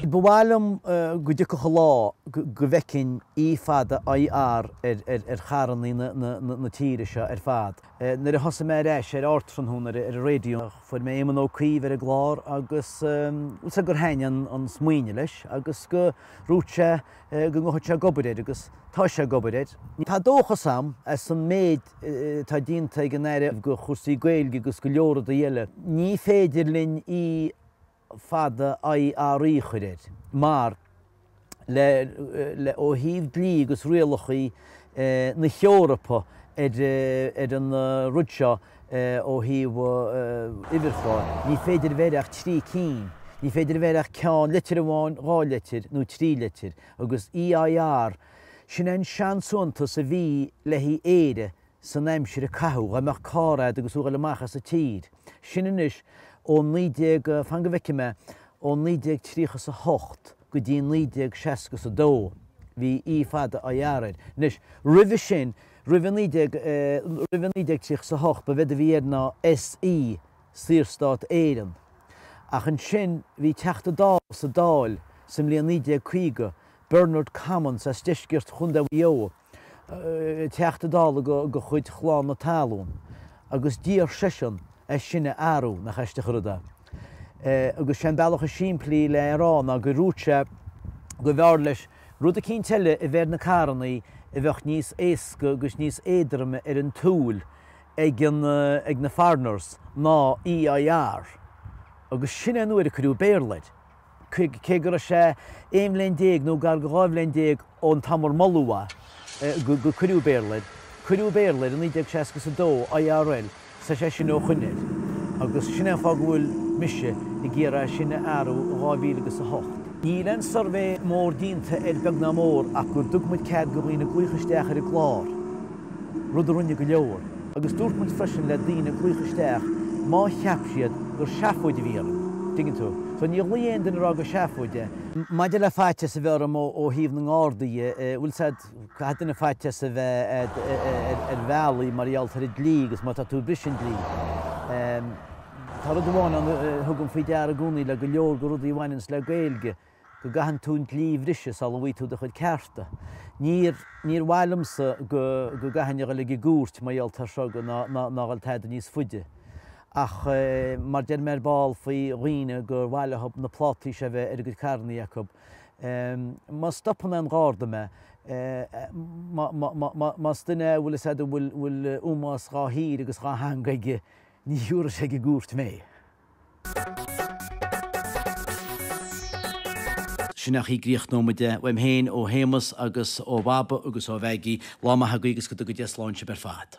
Ba mhaith liom go dtiocfadh an lá go bhfeicfinn E fada IR ar charrannaí na tíre seo ar fad. Nuair a thosaigh mé ar ais ar Ardtráthnóna ar an raidió fuair mé Éamon Ó Cuív ar an gclár agus bhuel gur thaitnigh an smaoineamh leis agus gur dhúirt sé go ngabhfadh sé ag obair air agus tá sé ag obair air. Tá dóchas a'm as an méid atá déanta ag an Aire do chúrsaí Gaeilge agus go leor rudaí eile. Ní féidir linn E fada IRE a chur air mar le le ó thaobh dlí agus rialachaí na hEorpa ar an rud seo Ó thaobh uimhirchláir, ní féidir a bheith air ach trí cinn. Ní féidir a bheith air ach ceann, litir amháin, dhá litir, nó trí litir. Agus EIR, sin é an seansuaitheantas a bhí le haghaidh Éire san aimsir a caitheadh, dhá mbeadh carr a'd agus thú ag dul amach as a tír. Sin anois ó naoi déag, fan go bhfeicfidh mé, ó naoi déag tríocha is a hocht go dtí naoi déag seasca is a dó, bhí E fada IR air. Anois, roimhe sin, Roimhe 1938 ba éard a bhí air ná SE, Saorstát Éireann. Ach ansin bhí Teachta Dála sa Dáil sa mbliain 1950, Bernard Commons as deisceart Chontae Mhaigh Eo, Teachta Dála de chuid Chlann na Talún, agus d'iarr seisean é sin a athrú. Nach aisteach an rud é. Agus sé an bealach is simplí le é a rá ná gur dhúirt sé go mb'fhearr leis, Rud eicínt eile a bheith ar na carrannaí a bheadh níos éasca agus níos éadroime ar an tsúil ag an, ag na foreigners ná EIR agus sin é an uair a cuireadh Béarla air, cé, cé go raibh sé aon bhliain déag nó gar go dhá bhliain déag ón t-am ar moladh é. gur cuireadh Béarla air, cuireadh Béarla air i naoi déag seasca is a dó, IRL, is tá sé sin ó shin air. Agus sin é an fáth go bhfuil mise ag iarraidh é sin a athrú i dhá mhíle agus a hocht. Níl aon suirbhé mór déanta air beag ná mór ach go dtug muid cead go dhaoine glaoch isteach ar an gclár, rud a rinne go leor. Agus dúirt muid freisin le daoine glaoch isteach má cheap siad gur seafóid a bhí orainn, dtuigeann tú. So níor ghlaoigh aon duine a rá gur seafóid é. Maidir le faitíos a bheith orm ó thaobh na nGardaí dhe, bhuel tá's a'd, caithfidh duine faitíos a bheith air ar bhealaí mar gheall ar an dlí agus má tá tú ag briseadh an dlí. Tá rud amháin ann a thugaim faoi deara i gcónaí le go leor de rudaí a bhaineanns le Gaeilge, go gcaitheann tú an dlí a bhriseadh sula bhfaighidh tú do chuid cearta. Níor mhaith liomsa go gcaithfinn a dhul ag an gcúirt mar gheall ar seo ná a dhul tada níos faide. Ach mar deir mé ar ball faoi dhaoine gur mhaith leo na plátaí seo a bheith ar a gcuid carrannaí acu, má stopann aon Gharda mé, más duine é a bhfuil fhios agat go bhfuil ómós dhá thír agus dhá theanga aige, ní thiúrfaidh sé go gcúirt mé. Sin é, críochnóimid é uaim féin, ó Shéamus agus ó Bhaba agus ó Mheaigí. Lá maith agaibh agus go dtuga Dia slán sibh ar fad.